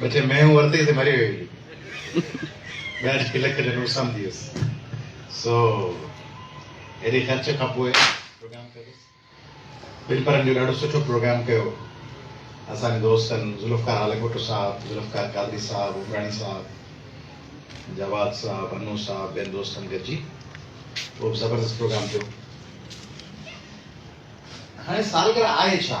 بچي مينهون ورتي سي مري ويئي. ٻيا ٽي لک جا نوٽ سمجهي ويس. سو هيڏي خرچ کان پوء پروگرام ڪيوس. ٻن پرن جو ڏاڍو سٺو پروگرام ڪيو. اسان جي دوستن ذوالفقار هاليپوٽو صاحب، ذوالفقار قادري صاحب، عمراڻي صاحب، جواد صاحب، انو صاحب ٻين دوستن گڏجي اهو به زبردست پروگرام ٿيو. هاڻي سالگرهه آهي ڇا؟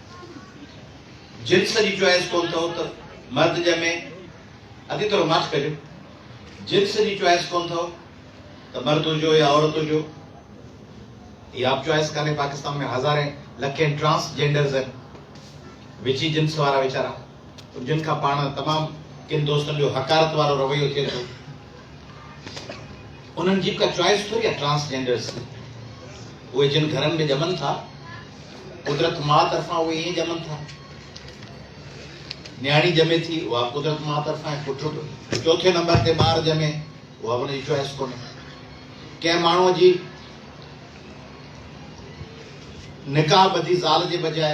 جنس جي چوائس ڪونه اٿئو ته مرد ڄمي اڳي ٿورو ماٺ ڪجو جنس جي چوائس ڪونه اٿئو ته مرد هجو يا عورت هجو هي آپ چوائس ڪانهي پاڪستان ۾ هزارين لکين ٽرانس جينڊرز آهن وچي جنس وارا ويچارا جن کان پاڻ تمام ڪن دوستن جو حقارت وارو رويو ٿئي ٿو انهن جي ڪا چوائس ٿوري آهي ٽرانس جينڊرس جي اهي جن گهرن ۾ ڄمن ٿا قدرت ماء طرفان اهي ائين ڄمن ٿا نياڻي ڄمي ٿي اها قدرت ماء طرفان پٽ چوٿين نمبر تي ٻار ڄمي اها به ان جي چوائس ڪونهي ڪنهن ماڻهوء جي نڪاح ٻڌي زال جي بجاء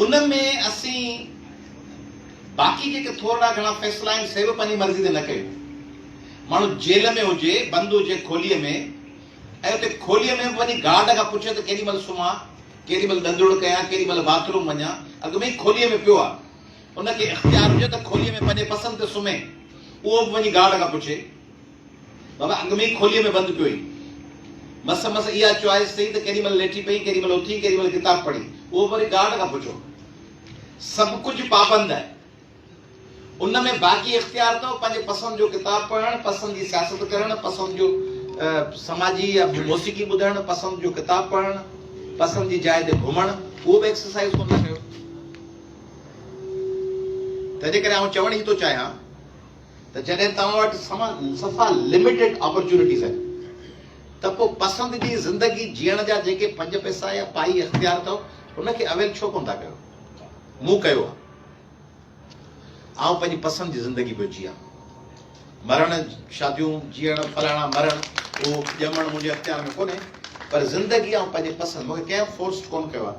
ان ۾ اسين باقي جيڪي ٿورڙا گهڻا فيصلا آهن سي به پنهنجي مرضي تي نه ڪيون. ماڻهو جيل ۾ هجي، بند هجي کوليء ۾ ۽ اتي کوليء ۾ به وڃي گارڊ کان پڇي ته ڪيڏي مهل سمهان، ڪيڏي مهل ڏندڙ ڪيان، ڪيڏي مهل باٿ روم وڃان، اڳ ۾ ئي کوليء ۾ پيو آهي. ان کي اختيار هجي ته کوليء ۾ پنهنجي پسند تي سمهي، اهو به وڃي گارڊ کان پڇي. بابا اڳ ۾ ئي کوليء ۾ بند پيو هئي. مس مس اها چوائس سهي ته ڪيڏي مهل ليٽي پئي، ڪيڏي مهل اٿي، ڪيڏي مهل ڪتاب پڙهي. اهو به وري گارڊ کان پڇو. سڀ ڪجهه پابند آهي. ان ۾ باقي اختيار اٿو پنهنجي پسند جو ڪتاب پڙهڻ، پسند جي سياست ڪرڻ، پسند جو سماجي يا موسيقي ٻڌڻ، پسند جو ڪتاب پڙهڻ، پسند جي جاء تي گهمڻ. اهو به ايڪسرسائيز ڪونه ٿا ڪيو. تنهنجي ڪري آئون چوڻ هي ٿو چاهيان. ته جڏهن توهان وٽ صفا لميٽيڊ آپرچونيٽيز آهن ته پوء پسند جي زندگي جيئڻ جا جيڪي پنج پئسا يا پائي اختيار اٿئو ان کي اويل ڇو ڪونه ٿا ڪيو؟ مون ڪيو آهي. آئون پنهنجي پسند جي زندگي پيو جيان. مرڻ، شاديون، جيئڻ، فلاڻا مرڻ، اهو ڄمڻ منهنجي اختيار ۾ ڪونهي پر زندگي آئون پنهنجي پسند مون کي ڪنهن فورسڊ ڪونه ڪيو آهي.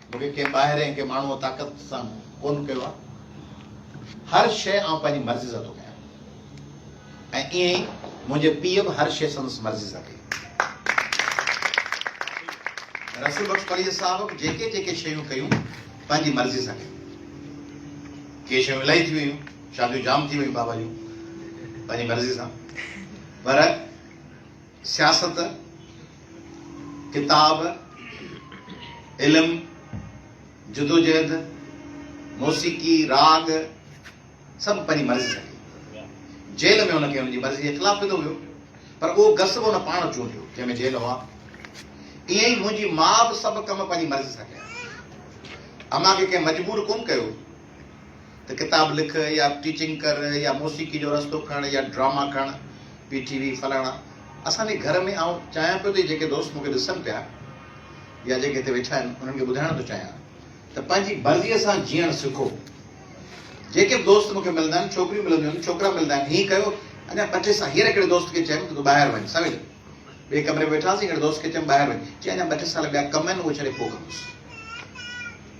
مون کي ڪنهن ٻاهرئين ڪنهن ماڻهوء طاقت سان ڪونه ڪيو آهي. هر شيء آئون پنهنجي مرضيء سان ٿو ڪيان ۽ ائين ئي منهنجي پيء به هر شيء سندس مرضيء سان ڪئي. رسول بخش پليجي صاحب به جيڪي جيڪي شيون ڪيون پنهنجي مرضيء سان ڪيون. ڪي شيون الائي ٿي ويون، شاديون جام ٿي ويون بابا جون پنهنجي مرضيء سان پر سياست، ڪتاب، علم، جدوجهد، موسيقي، راڳ سڀ پنهنجي مرضي سان ڪيو. جيل ۾ هن کي هن جي مرضي جي خلاف وڌو ويو، پر اهو گس به هن پاڻ چونڊيو، جنهن ۾ جيل هئا. ائين ئي منهنجي ماء به سڀ ڪم پنهنجي مرضي سان ڪيا. امان کي ڪنهن مجبور ڪونه ڪيو. ته ڪتاب لک يا ٽيچنگ ڪر يا موسيقي جو رستو کڻ يا ڊراما کڻ پي ٽي وي فلاڻا اسان جي گهر ۾ آئون چاهيان پيو ته جيڪي دوست مون کي ڏسن پيا يا جيڪي هتي ويٺا آهن انهن کي ٻڌائڻ ٿو چاهيان ته پنهنجي مرضيء سان جيئڻ سکو جيڪي به دوست مون کي ملندا آهن ڇوڪريون ملنديون آهن ڇوڪرا ملندا آهن هيء ڪيو اڃا ٻه ٽي سال هينئر هڪڙي دوست کي چيم ته تون ٻاهر وڃ سمجهه ٻئي ڪمري ۾ ويٺاسين هڪڙي دوست کي چيم ٻاهر وڃ چي اڃا ٻه ٽي سال ٻيا ڪم آهن اهي ڇڏي پوء ڪندس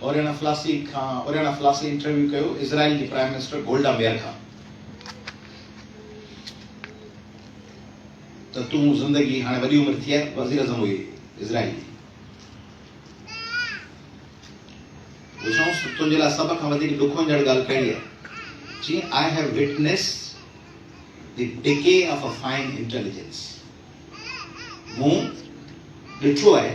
اوريانا فلاسي کان اوريانا فلاسي انٽرويو ڪيو اسرائيل جي پرائم منسٽر گولڊا ميئر کان ته تون زندگي هاڻي وڏي عمر ٿي آهي وزير اعظم هئي اسرائيل جي پڇيائونس ته تنهنجي لاء سڀ کان وڌيڪ ڏک وڃڻ ڳالهه ڪهڙي آهي چي I have witness the decay of a fine intelligence مون ڏٺو آهي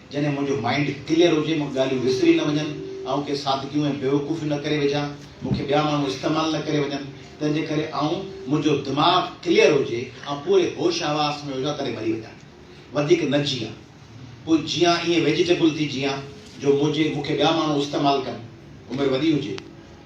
جڏهن منهنجو مائينڊ ڪليئر هجي، مون کي ڳالهيون وسري نه وڃن، آئون ڪي سادگيون ۽ بيوقوفيون نه ڪري وجهان، مون کي ٻيا ماڻهو استعمال نه ڪري وڃن، تنهن جي ڪري آئون منهنجو دماغ ڪليئر هجي، آئون پوري هوش حواس ۾ هجان تڏهن مري وڃان. وڌيڪ نه جيئان. پوء جيئان ائين ويجيٽيبل ٿي جيئان جو منهنجي مون کي ٻيا ماڻهو استعمال ڪن. عمر وڏي هجي.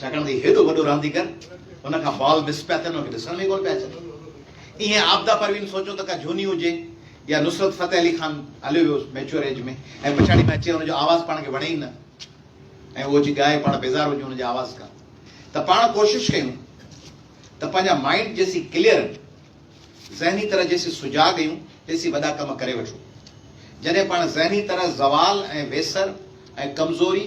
ڇاڪاڻ ته هي هيڏو وڏو رانديگر هن کان بال مس پيا ٿين، هن کي ڏسڻ ۾ ئي ڪونه پيا اچن. ايئن عابده پروين سوچيو ته ڪا جھوني هجي يا نصرت فتح علي خان هليو ويو ميچوئر ايج ۾ ۽ پڇاڙي ۾ اچي ان جو آواز پاڻ کي وڻي ئي نه ۽ اهو اچي ڳائي پاڻ بيزار هجون ان جي آواز کان ته پاڻ ڪوشش ڪيون ته پنهنجا مائنڊ جيسين ڪليئر آهن ذهني طرح جيسين سجاڳ ايون تيسين وڏا ڪم ڪري وٺون جڏهن پاڻ ذهني طرح زوال ۽ ويسر ۽ ڪمزوري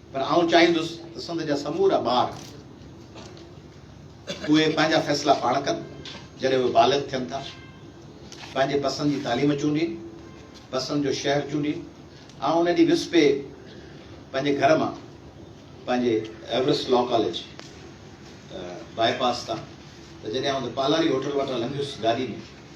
پر آئون چاهيندس ته سنڌ جا سمورا ٻار اهي پنهنجا فيصلا پاڻ ڪن، جڏهن اهي بالغ ٿين ٿا، پنهنجي پسند جي تعليم چونڊين، پسند جو شهر چونڊين، آئون ان ڏينهن وسپي پنهنجي گهر مان پنهنجي ايورسٽ لا ڪاليج باء پاس تان ته جڏهن آئون ته پالاري هوٽل وٽان لنگهيس گاڏي ۾،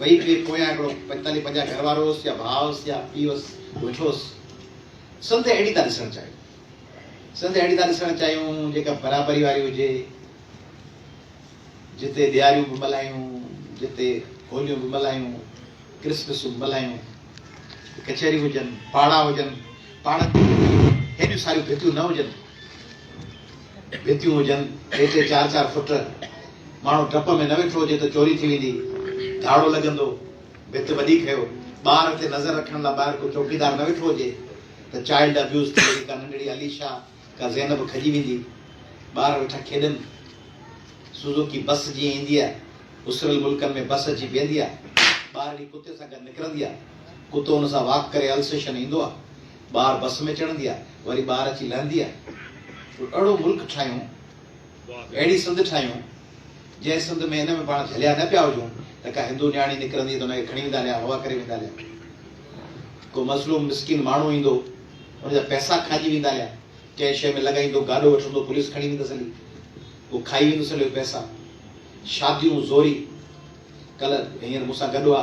وئي ڪري پويان هڪڙو پنجتاليهه پنجاهه گهر وارو هوس يا ڀاء هوس يا پيء هوس ويٺوس سنڌ اهڙي ٿا ڏسڻ چاهيون سنڌ اهڙي ٿا ڏسڻ چاهيون جيڪا برابري واري هجي جتي ڏياريون به ملهايون جتي هوليون به ملهايون ڪرسمسون به ملهايون ڪچهريون هجن پاڙا هجن پاڙن تي هيڏيون ساريون ڀتيون نه هجن ڀتيون هجن ٽي ٽي چار چار فٽ، ماڻهو ڊپ ۾ نه ويٺو هجي ته چوري ٿي ويندي، ڌاڙو لڳندو، ڀت وڏي کيو، ٻار تي نظر رکڻ لاء ٻاهر ڪو چوڪيدار نه ويٺو هجي ته چائلڊ ابيوز ٿي وڃي، ڪا ننڍڙي اليشا، ڪا زينب کڄي ويندي، ٻار ويٺا کيڏن، سوزوڪي بس جيئن ايندي آهي، اسريل ملڪن ۾ بس اچي بيهندي آهي، ٻارڙي ڪتي سان گڏ نڪرندي آهي، ڪتو ان سان واڪ ڪري السيشن ايندو آهي، ٻار بس ۾ چڙهندي آهي وري ٻار اچي لهندي آهي ڪو اهڙو ملڪ ٺاهيون اهڙي سنڌ ٺاهيون جنهن سنڌ ۾ ان ۾ پاڻ جهليا نه پيا هجون ته ڪا هندو نياڻي نڪرندي ته ان کي کڻي ويندا ليا هوا ڪري ويندا ليا ڪو مظلوم مسڪين ماڻهو ايندو ان جا پئسا کائجي ويندا ليا ڪنهن شيء ۾ لڳائيندو گاڏو وٺندو پوليس کڻي ويندس هلي هو کائي ويندس هليو پئسا شاديون زوري ڪلهه هينئر مون سان گڏ هئا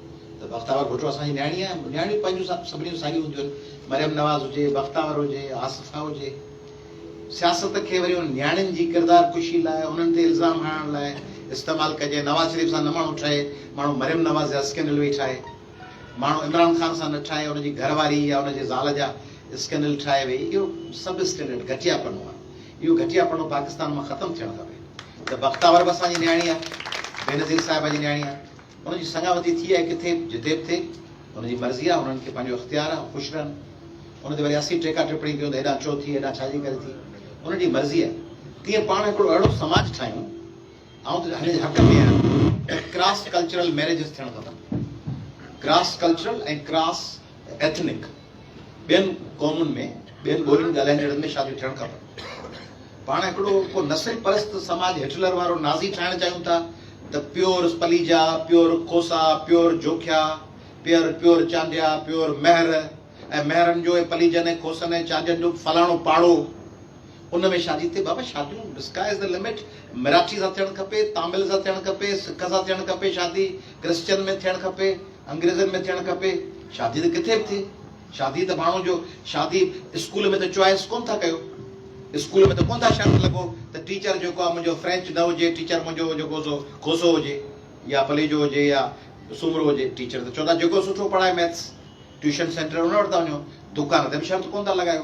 ته بختاور ڀٽو اسان جي نياڻي آهي، نياڻيون پنهنجون سڀني جون ساڳيون هونديون آهن، مريم نواز هجي، بختاور هجي، آصفه هجي. سياست کي وري انهن نياڻين جي ڪردار ڪشي لاء، انهن تي الزام هڻڻ لاء استعمال ڪجي، نواز شريف سان نه ماڻهو ٺهي، ماڻهو مريم نواز جا اسڪينڊل ويهي ٺاهي، ماڻهو عمران خان سان نه ٺاهي، ان جي گهر واري يا ان جي زال جا اسڪينڊل ٺاهي ويهي، اهو سب اسٽينڊرڊ گهٽيا پڻو آهي، اهو گهٽيا پڻو پاڪستان مان ختم ٿيڻ کپي ته بختاور به اسان جي نياڻي آهي، بينظير صاحبه جي نياڻي آهي. ان جي سڱاوتي ٿي آهي ڪٿي به جتي به ٿئي ان جي مرضي آهي انهن کي پنهنجو اختيار آهي هو خوش رهن ان تي وري اسين ٽيڪا ٽپڻي ڪيون ته هيڏانهن ڇو ٿي هيڏانهن ڇا جي ڪري ٿي انهن جي مرضي آهي تيئن پاڻ هڪڙو اهڙو سماج ٺاهيون آئون ته هن جي حق ۾ آهيان ته ڪراس ڪلچرل ميريجز ٿيڻ کپن ڪراس ڪلچرل ۽ ڪراس ايٿنڪ ٻين قومن ۾ ٻين ٻولين ڳالهائيندڙن ۾ شاديون ٿيڻ کپن. پاڻ هڪڙو ڪو نسل پرست سماج هٽلر وارو نازي ٺاهڻ چاهيون ٿا ته pure Palija, pure Khosa, pure Jokhia, pure, pure Chandia, pure Mahar ۽ مهرن جو ۽ پليجن ۽ کوسن ۽ چانڊين جو فلاڻو پاڙو، ان ۾ شاھه جي ٿي بابا شاديون The sky is the limit Marathi سان ٿيڻ کپي تامل سان ٿيڻ کپي سک سان ٿيڻ کپي شادي ڪرسچن ۾ ٿيڻ کپي انگريزن ۾ ٿيڻ کپي شادي ته ڪٿي به ٿئي شادي ته ماڻھو جو شادي اسڪول ۾ ته چوائس ڪون ٿا ڪيو اسڪول ۾ ته ڪون ٿا شرط لڳو ته ٽيچر جيڪو آھي منھنجو فرينچ نه ھجي ٽيچر منھنجو جيڪو سو کوسو ھجي يا پليجو ھجي يا سومرو ھجي ٽيچر ته چوندا جيڪو سٺو پڙھائي ميٿس ٽيوشن سينٽر ان وٽ ٿا وڃو دڪان تي به شرط ڪون ٿا لڳايو.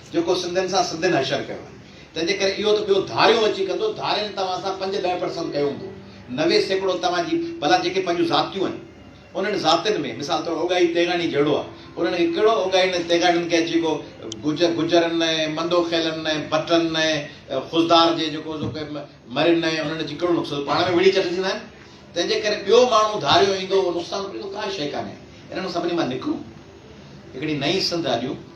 جيڪو سنڌين سان سنڌين حشر ڪيو آهي. تنهن جي ڪري اهو ته ٻيو ڌاريو اچي ڪندو، ڌارين توهان سان پنج ڏهه پرسنٽ ڪيو هوندو، نوي سيڪڙو توهان جي ڀلا جيڪي پنهنجون ذاتيون آهن، انهن ذاتين ۾ مثال طور اوڳاڙي تيغاڻي جهڙو آهي، انهن کي ڪهڙو اوڳاڙين ۽ تيغاڻين کي اچي ڪو گجرن ۽ منڊوخيلن ۽ ڀٽن ۽ خضدار جي جيڪو مرين ۽ انهن اچي ڪهڙو نقصان پاڻ ۾ وڙهي چٽجندا آهن، تنهن جي ڪري ٻيو ماڻهو ڌاريو ايندو اهو نقصان ڪريندو، ڪا شيء ڪانهي، انهن سڀني مان نڪرون، هڪڙي نئين سنڌ آڏيون.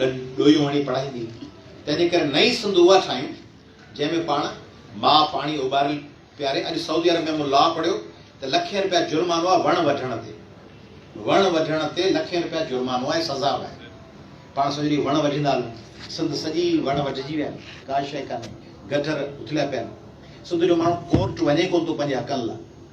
گڏ ڏويون هڻي پڙهائيندي هئي، تنهن جي ڪري نئين سنڌ اها ٺاهيون، جنهن ۾ پاڻ ماء پاڻي اوٻاريل پياري. اڄ سعودي عرب ۾ مون لا پڙهيو ته لکين رپيا جرمانو آهي وڻ وڍڻ تي. وڻ وڍڻ تي لکين رپيا جرمانو آهي، سزا به آهي. پاڻ سڄو ڏينهن وڻ وڍيندا هلون. سنڌ سڄي وڻ وڍجي ويا آهن، ڪا شيء ڪانهي، گٽر اٿليا پيا آهن. سنڌ جو ماڻهو ڪورٽ وڃي ڪونه ٿو پنهنجي حقن لاء.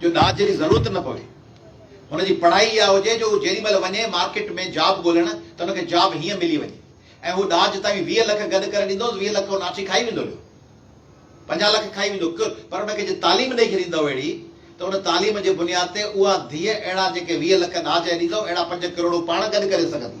جو ڏاج جي ضرورت نه پوي. هن جي پڙهائي اها هجي جو هو جيڏي مهل وڃي مارڪيٽ ۾ جاب ڳولڻ ته هن کي جاب هيئن ملي وڃي ۽ هو ڏاج توهين ويهه لک گڏ ڪري ڏيندوس ويهه لک هو ناٺي کائي ويندو ليو پنجاهه لک کائي ويندو ڪر پر هن کي جي تعليم ڏئي ڇڏيندؤ اهڙي ته ان تعليم جي بنياد تي اها ڌيء اهڙا جيڪي ويهه لک ڏاج ڏيندؤ اهڙا پنج ڪروڙون پاڻ گڏ ڪري سگهندي.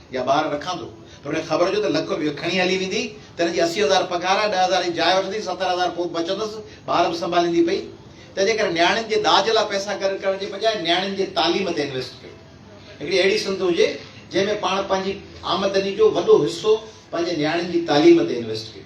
يا ٻار رکان ٿو پر هن کي خبر هجي ته لک روپيو کڻي هلي ويندي ته هن جي اسي هزار پگهار آهي، ڏهه هزار جي جاء وٺندي، ستر هزار پوء به بچندس، ٻار به سنڀاليندي پئي. تنهنجي ڪري نياڻين جي ڏاج لاء پئسا گڏ ڪرڻ جي بجاء نياڻين جي تعليم تي انويسٽ ڪيو. هڪڙي اهڙي سنڌ هجي جنهن ۾ پاڻ پنهنجي آمدني جو وڏو حصو پنهنجي نياڻين جي تعليم تي انويسٽ ڪيو.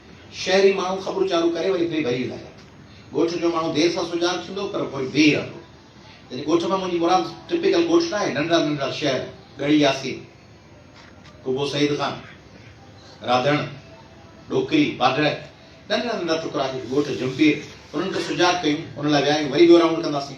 شهري ماڻهو خبرون چارو ڪري وري بي بهري لاهيا. ڳوٺ جو ماڻهو دير سان سڃاڻ ٿيندو پر پوء بيهي رهندو. يعني ڳوٺ مان منهنجي مراد ٽپيڪل ڳوٺ ناهي، ننڍڙا ننڍڙا شهر، ڳڙهي ياسين، قبو سعيد خان، راڌڻ، ڏوڪري، باڊهه، ننڍڙا ننڍڙا ٽڪرا هي، ڳوٺ جهمپير، انهن کي سجاڳ ڪيون، ان لاء ويا آهيون، وري ٻيو رائونڊ ڪنداسين.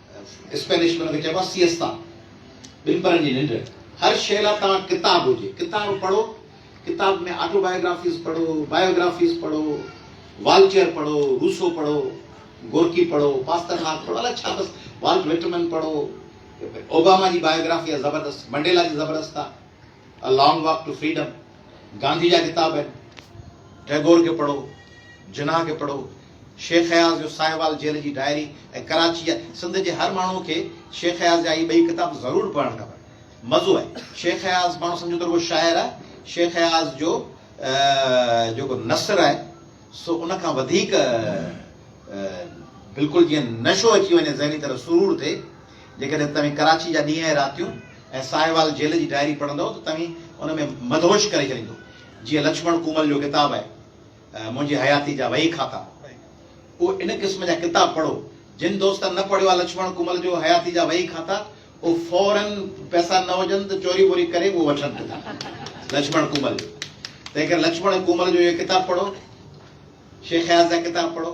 اسپينش ۾ ان کي چئبو آهي سيئستا، ٻن پهرن جي ننڊ. هر شيء لاء توهان ڪتاب هجي، ڪتاب پڙهو، ڪتاب ۾ آٽو بايوگرافيز پڙهو، بايوگرافيز پڙهو، والٽيئر پڙهو، روسو پڙهو، گورڪي پڙهو، پاسترناڪ پڙهو، الاء ڇا بس والٽ وٽمن پڙهو، اوباما جي بايوگرافي آهي زبردست، منڊيلا جي زبردست آهي A Long Walk to Freedom، Gandhi جا ڪتاب آهن، ٽئگور کي پڙهو، جناح کي پڙهو. شيخ اياز جو ساهيوال جيل جي ڊائري ۽ ڪراچيء سنڌ جي هر ماڻهوء کي شيخ اياز جا هي ٻئي ڪتاب ضرور پڙهڻ کپن. مزو آهي. شيخ اياز ماڻهو سمجهن ته رڳو شاعر آهي. شيخ اياز جو جيڪو نثر آهي سو ان کان وڌيڪ بلڪل جيئن نشو اچي وڃي ذهني طرح سرور ٿئي. جيڪڏهن توهين ڪراچيء جا ڏينهن ۽ راتيون ۽ ساهيوال جيل جي ڊائري پڙهندؤ ته توهين ان ۾ مدهوش ڪري ڇڏيندو. جيئن لڇمڻ ڪومل جو ڪتاب آهي. منهنجي حياتي جا وهي کاتا اهو ان قسم جا ڪتاب پڙهو جن دوستن نه پڙهيو آهي لڇمڻ ڪمل جو حياتي جا وهي کاتا اهو فورا پئسا نه هجن ته چوري ٻوري ڪري اهو وٺن لڇمڻ ڪمل تنهن ڪري لڇمڻ ڪمل جو اهو ڪتاب پڙهو شيخ اياز جا ڪتاب پڙهو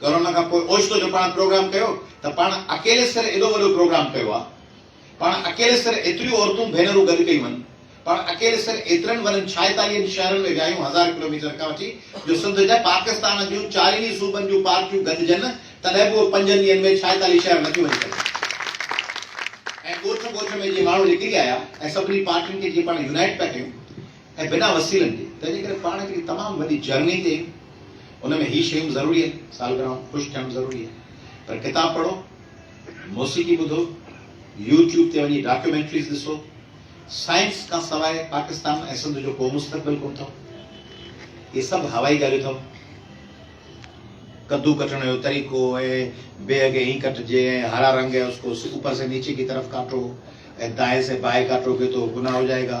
ڪورونا کان پوء اوچتو جو پاڻ پروگرام ڪيو ته پاڻ اڪيلي سر ايڏو وڏو پروگرام ڪيو آ، پاڻ اڪيلي سر ايتريون عورتون ڀينرون گڏ ڪيون ھن، پاڻ اڪيلي سر ايترن ورھين ڇائيتاليھن شھرن ۾ ويايون ھزار ڪلوميٽر کان وٺي جو سنڌ نه پاڪستان جون چارئني صوبن جون پارٽيون گڏجن تڏھن به اھي پنجن ڏينھن ۾ ڇائيتاليھ شھر نٿيون وڃي سگھن ۽ ڳوٺ ڳوٺ ۾ جي ماڻھو نڪري آيا ۽ سڀني پارٽين کي جي پاڻ يونائيٽ پيا ڪيون ۽ بنا وسيلن جي، تنهنجي ڪري پاڻ هڪڙي تمام وڏي جرني تي آهيون، ان ۾ هي شيون ضروري آهن، سالگرهائون خوش ٿيڻ ضروري آهي، پر ڪتاب پڙهو، موسيقي ٻڌو، يو ٽيوب تي وڃي ڊاڪيومينٽريز ڏسو، سائنس کان سواء پاڪستان ۽ سنڌ جو ڪو مستقبل ڪونه اٿئو، اهي سڀ هوائي ڳالهيون اٿئو، ڪدو ڪٽڻ جو طريقو ۽ بيهه کي ائين ڪٽجي ۽ هرا رنگ هي اس ڪو اوپر سي نيچي ڪي طرف ڪاٽو ۽ دائين سي بائين ڪاٽو گي تو گناهه هو جائي گا.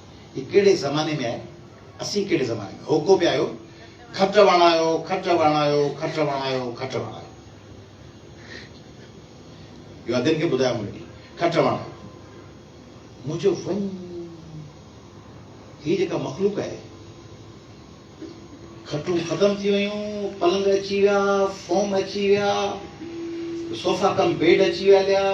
هي ڪهڙي زماني ۾ آهي، اسين ڪهڙي زماني ۾، هوڪو پيا آهيو، کٽ وڻايو، کٽ وڻايو، کٽ وڻايو، کٽ وڻايو. اهو ادين کي ٻڌايو مون ڏي، کٽ وڻايو. مون چيو وڃ، هي جيڪا مخلوق آهي، کٽون ختم ٿي ويون، پلنگ اچي ويا، فوم اچي ويا، صوفا ڪم بيڊ اچي ويا ليا.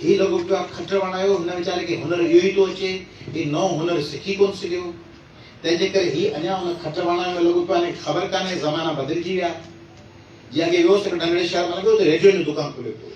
هي لڳو پيو آ کٽ وڻايو، هن ويچاري کي هنر اهو ئي ٿو اچي، هي نئون هنر سکي ڪونه سگهيو، تنهن جي ڪري هي اڃا ان کٽ وڻايو ۾ لڳو پيو آ، هن کي خبر ڪانهي زمانا بدلجي ويا. جي اڳي ويو هوس هڪ ننڍڙي شهر مان لنگهيو ته ريڊيوئن جو دڪان کليو پيو هو.